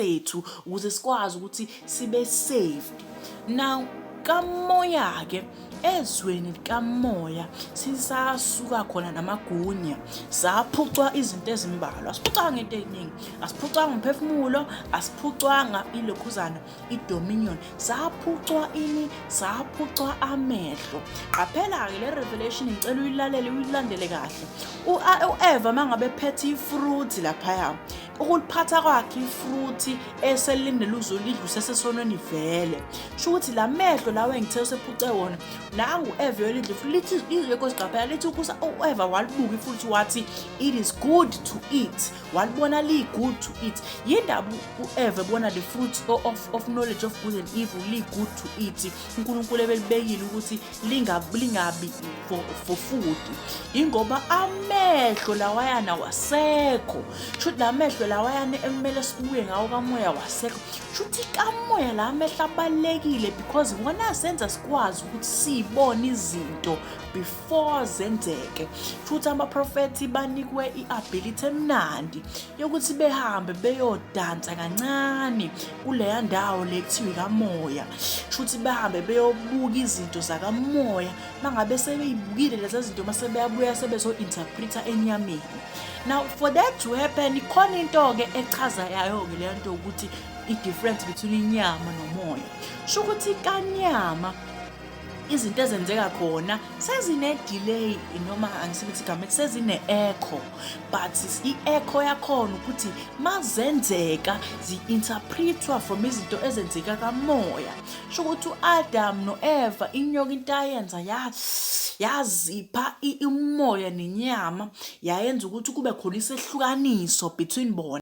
bethu ukuze sikwazi ukuthi sibe saved now kamoya ke ezweni likamoya sisasuka khona namagunya saphucwa izinto ezimbalwa asiphucanga into eningi asiphucanga umphefumulo asiphucwanga ilokhuzana idominion saphucwa ini saphucwa amehlo qaphela-ke le revelation ngicela uyilalele uyilandele kahle u-eva uma ngabe phethe ifruthi laphaya ukuliphatha kwakhe ifruthi eselindele uzolidla usesesonweni vele sho ukuthi la mehlo lawo engithe usephuce wona nangu eve yolidla futhi lithi izwe kosiqaphela lithi ukusa ueva walibuka futhi wathi it is good to eat walibona liyi-good to eat yindaba ueve bona the fruit of, of knowledge of good and evil liyi-good to eat unkulunkulu ebelibekile ukuthi lingabi lingabi for, for food ingoba amehlo lawayana wasekho shuthi la mehlo lawayana ekumele sibuye ngawo kamoya wasekho shuthi kamoya la mehlo abalulekile because wona asenza sikwazi ukuthi sibone izinto before zenzeke shuthi abaprofethi banikwe i-ability emnandi yokuthi behambe beyodansa kancane kuleya ndawo le kuthiwa ikamoya shuthi bahambe beyobuka izinto zakamoya bangabe sebeyibukile lezi zinto uma sebeyabuya sebezo-interpreta enyameni now for that to happen ikhona into-ke echaza yayo-ke leyo nto ukuthi i-difference between inyama nomoya sho ukuthi kanyama izinto ezenzeka khona sezine-delay noma angisebenzisa igama ethi sezine-echo but i-echo yakhona ukuthi mazenzeka zi-interpretwa from izinto ezenzeka kamoya sho ukuthi u-adam no-eva inyoka into ayenza yazipha umoya nenyama yayenza ukuthi kube khona isehlukaniso between bona